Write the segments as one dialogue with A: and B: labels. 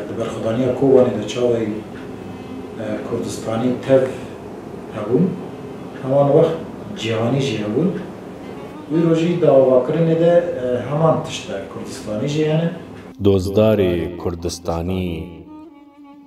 A: Di berxwedaniya Kobanê de çavên Kurdistanî tev hebûn, heman wext cîhanî jî hebûn. Wî rojî di avakirinê de heman tişt de Kurdistanî jî hene. Dozdarê Kurdistanî.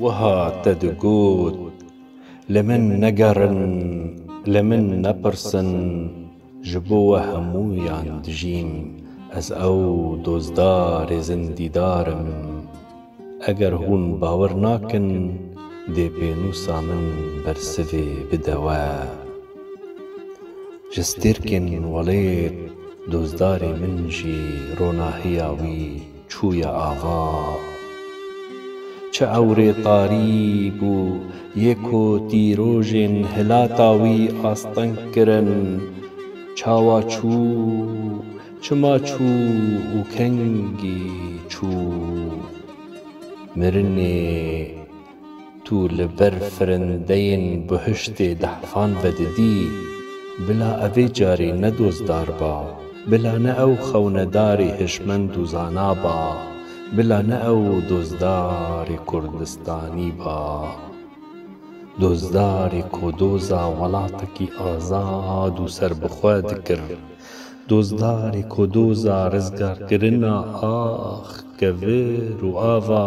A: Wiha te digot, Li min negerin, li min nepirsin, ji bo we hemûyan dijîm, ez ew dozdarê zindîdar im. Eger hûn bawer nakin, dê pênûsa min bersivê bide we. Ji stêrkên welêt dozdarê min jî ronahiya wî. Çûye ava. Çi ewrê tarî bû yê ku dîrojên hilata wî asteng kirin. Çawa çû, çima çû û kengî çû? Mirinê. Tu li ber firindeyên bihiştê dehfan vedidî, bila evê carî ne dozdar ba, bila ne ew xewnedarî hişmend û zana ba, bila ne ew dozdarî Kurdistanî ba. Dozdarî ku doza welatekî azad û serbixwe dikir, dozdarî ku doza rizgarkirina ax, kevir û ava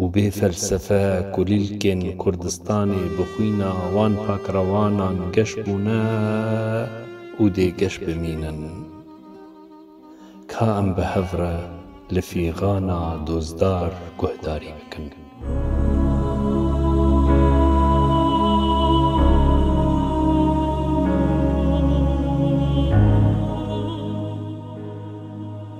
A: Û bê felsefe kulîlkên Kurdistanê bi xwîna wan pakrewanan geş bûne û dê geş bimînin. Ka em bi hev re li fîxana dozdar guhdarî bikin.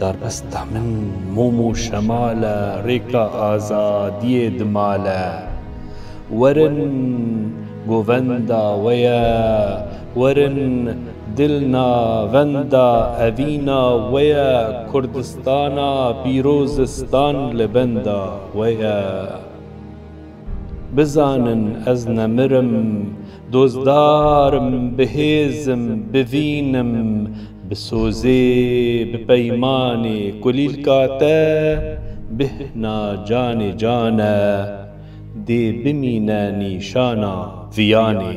A: Darbesta min mom û şemal e, rêka azadiyê dimal e. Werin govenda we ye, werin dil navenda evîna we ye, Kurdistana pîrozistan li benda we ye. Bizanin ez nemir im, dozdar im, bi hêz im, bi vîn im, bi sozê, bi peymanê, kulîlka te bihna canê can e, dê bimîne nîşana viyanê.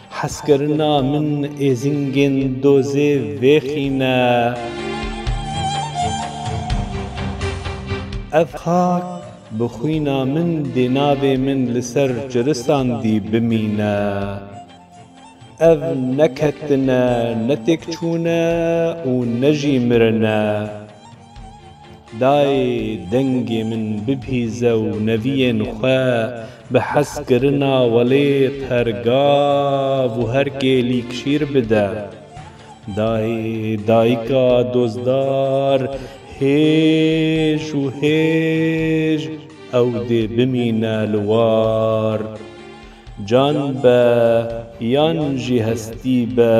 A: Hezkirina min êzingên dozê vêxîne. Ev xak bi xwîna min dê navê min li ser ciristan dî bimîne. Ev ne ketine, ne têkçûne û ne jî mirine. Dayê dengê min bipîze û neviyên xwe bi hez kirina welêt her gav û her kêlîk şîr bide. Dayê dayika dozdar hêj û hêj ew dê bimîne li war. Can be yan jî hestî be.